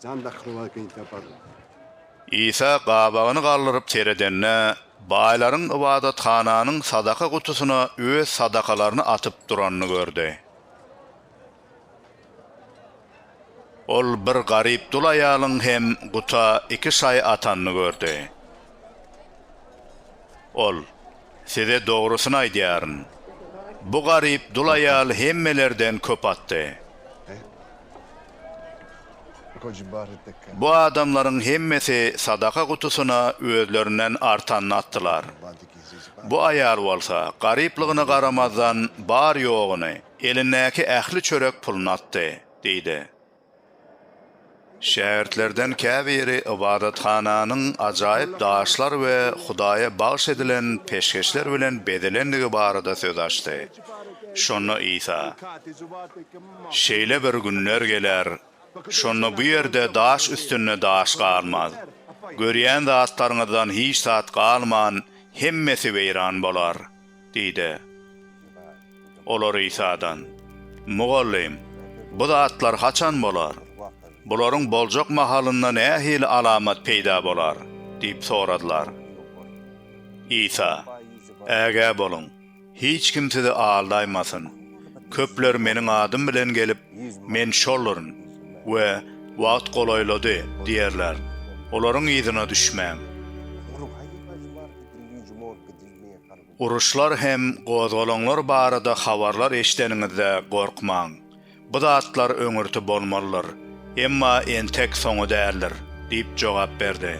Jan dakylmaz beýik tapar. Isa gabagyny galdyryp seredende, baýlaryň ybadathananyň sadaka gutusyna öz sadakalaryny atyp duranyny gördi. Ol bir garyp dul aýalyň hem guta iki şaý atanyny gördi. Ol. Size dogrusyny aýdýaryn, bu garyp dul aýal hemmelerden köp atdy. Bu adamlaryň hemmesi sadaka gutusyna özlerinden artanyny atdylar. Bu aýal bolsa, garyplygyna garamazdan, bar-ýoguny, elindäki ähli çörek puluny atdy, diýdi. Şägirtlerden käbiri ybadathananyň ajaýyp daşlar we Hudaýa bagyş edilen peşgeşler bilen bezelendigi barada söz açdy. Şonda Isa, Şeýle bir günler geler, şonda bu ýerde daş üstünde daş galmaz. Görýän zatlaryňyzdan hiç zat galman, hemmesi weýran bolar. Diýdi. Olar Isadan, Mugallym, bu zatlar haçan bolar? Bularyň boljak mahalynda nähili alamat peýda bolar? diýip soradylar. Isa, Ägä boluň, hiç kim sizi aldaýmasyn. Köpler Meniň adym bilen gelip, Men şolduryn we Wagt golaýlady diýerler. Olaryň yzyna düşmäň. Uruşlar hem gozgalaňlar barada habarlar eşideniňizde gorkmaň. Bu zatlar öňürti bolmalydyr, emma entek soňy däldir diýip jogap berdi.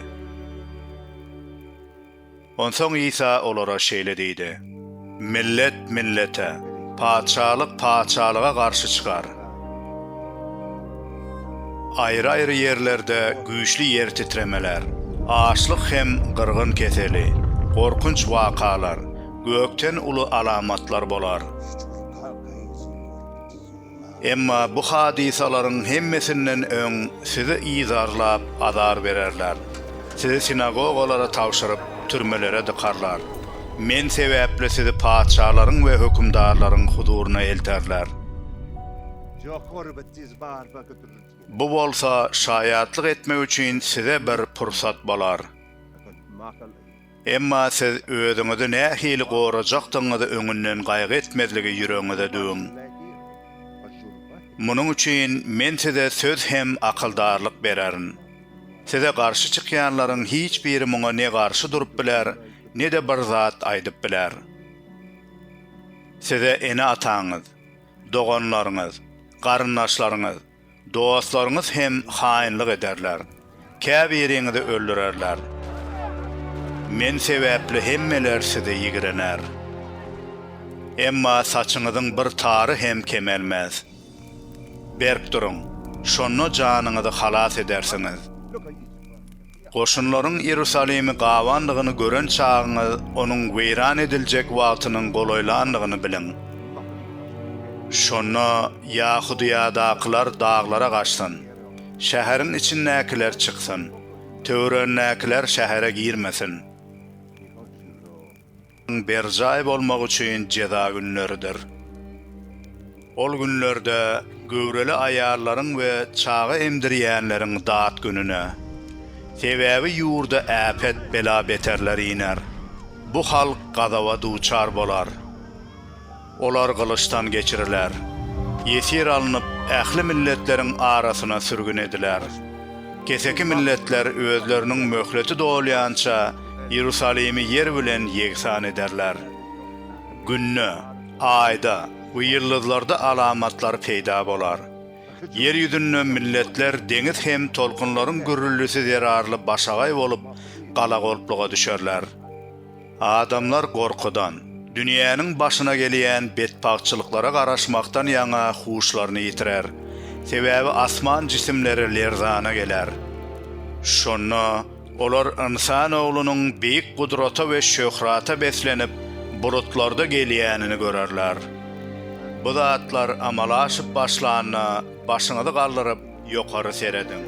Onsoň Isa olara şeýle diýdi, Millet millete, patyşalyk patyşalyga garşy çykar. Aýry-aýry ýerlerde güýçli ýer titremeler, açlyk hem gyrgyn keseli, gorkunç wakalar, gökden uly alamatlar bolar. Emma bu hadysalaryň hemmesinden öň sizi yzarlap azar bererler, sizi sinagogalara tabşyryp, türmelere dykarlar. Men sebäpli sizi patyşalaryň we hökümdarlaryň huzuryna elterler. Bu bolsa şaýatlyk etmek üçin size bir pursat bolar. Emma siz özüňizi nähili gorajakdygyňyzy öňünden gaýgy etmezligi ýüregiňize düwüň. Munuň üçin Men size söz hem akyldarlyk bererin. Size garşy çykýanlaryň hiç biri muňa ne garşy durup biler, ne-de bir zat aýdyp biler. Size ene-ataňyz, doganlaryňyz, garyndaşlaryňyz, dostlaryňyz hem haýynlyk ederler, käbiriňizi öldürerler. Men sebäpli hemmeler size ýigrener. Emma saçyňyzyň bir tary hem kemelmez. Berk duruň, şonda janyňyzy halas edersiňiz. Goşunlaryň Iýerusalimi gabandygyny gören çagyňyz onuň weýran ediljek wagtynyň golaýlandygyny biliň. Şonda Ýahudyýadakylar daglara gaçsyn, şäheriň içindäkiler çyksyn, töweregindäkiler şähere girmesin. Ň berjaý bolmak üçin jeza günleridir. Ol günlerde göwreli aýallaryň we çaga emdirýänleriň dat gününe. Sebäbi ýurda äpet, bela-beterler iner. Bu halk gazaba duçar bolar. Olar gylyçdan geçiriler. Ýesir alnyp, ähli milletleriň arasyna sürgün ediler. Keseki milletler özleriniň möhleti dolýança Iýerusalimi ýer bilen ýegsan ederler. Günde, Aýda we ýyldyzlarda alamatlar peýda bolar. Ýer ýüzünde milletler deňiz hem tolkunlaryň gürrüldisi zerarly başagaý bolup, galagolpluga düşerler. Adamlar gorkudan, dünýäniň başyna gelýän betbagtçylyklara garaşmakdan ýaňa huşlaryny ýitirer. Sebäbi asman jisimleri lerzana geler. Şonda olar ynsan oglunyň beýik gudrata we şöhrata beslenip, bulutlarda gelýänini görerler. Bu zatlar amala aşyp başlanda başyňyzy galdyryp, Ýokary serediň.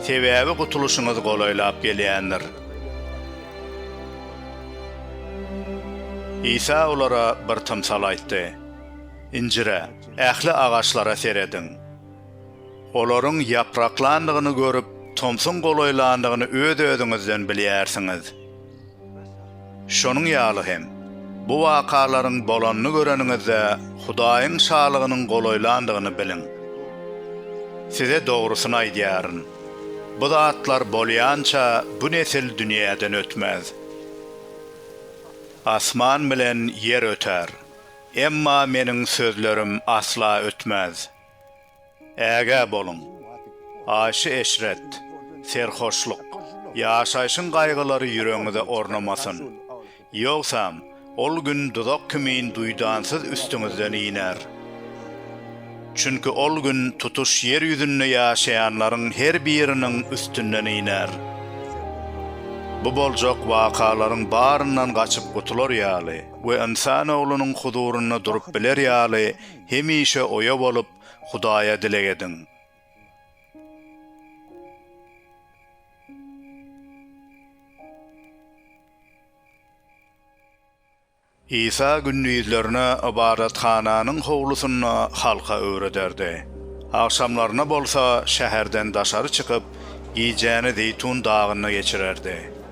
Sebäbi gutulyşyňyz golaýlap gelýändir. Isa olara bir tymsal aýtdy. Injire, ähli agaçlara serediň. Olaryň ýapraklandygyny görüp, tomsuň golaýlandygyny öz-özüňizden bilýärsiňiz. Şonuň ýaly hem, bu wakalaryň bolanyny göreniňizde, Hudaýyň Şalygynyň golaýlandygyny biliň. Size dogrusyny aýdýaryn, bu zatlar bolýança bu nesil dünýäden ötmez. Asman bilen ýer öter, emma Meniň sözlerim asla ötmez. Ägä boluň! Aýşy-eşret, serhoşlyk, ýaşaýşyň gaýgylary ýüregiňize ornamasyn. Ýogsam, ol gün duzak kimin duýdansyz üstüňizden iner. Çünki ol gün tutuş ýer ýüzünde ýaşaýanlaryň her biriniň üstünden iner. Bu boljak wakalaryň baryndan gaçyp gutular ýaly we Ynsan Oglunyň huzurynda durup biler ýaly hemişe oýa bolup Hudaýa dileg ediň. Isa gündizlerine ybadathananyň howlusynda halka öwrederdi. Agşamlaryna bolsa şäherden daşary çykyp, gijäni Zeýtun dagynda geçirerdi.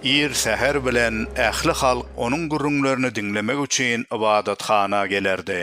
Ir säher bilen ähli halk onuň gürrüňlerini diňlemek üçin ybadathana gelerdi.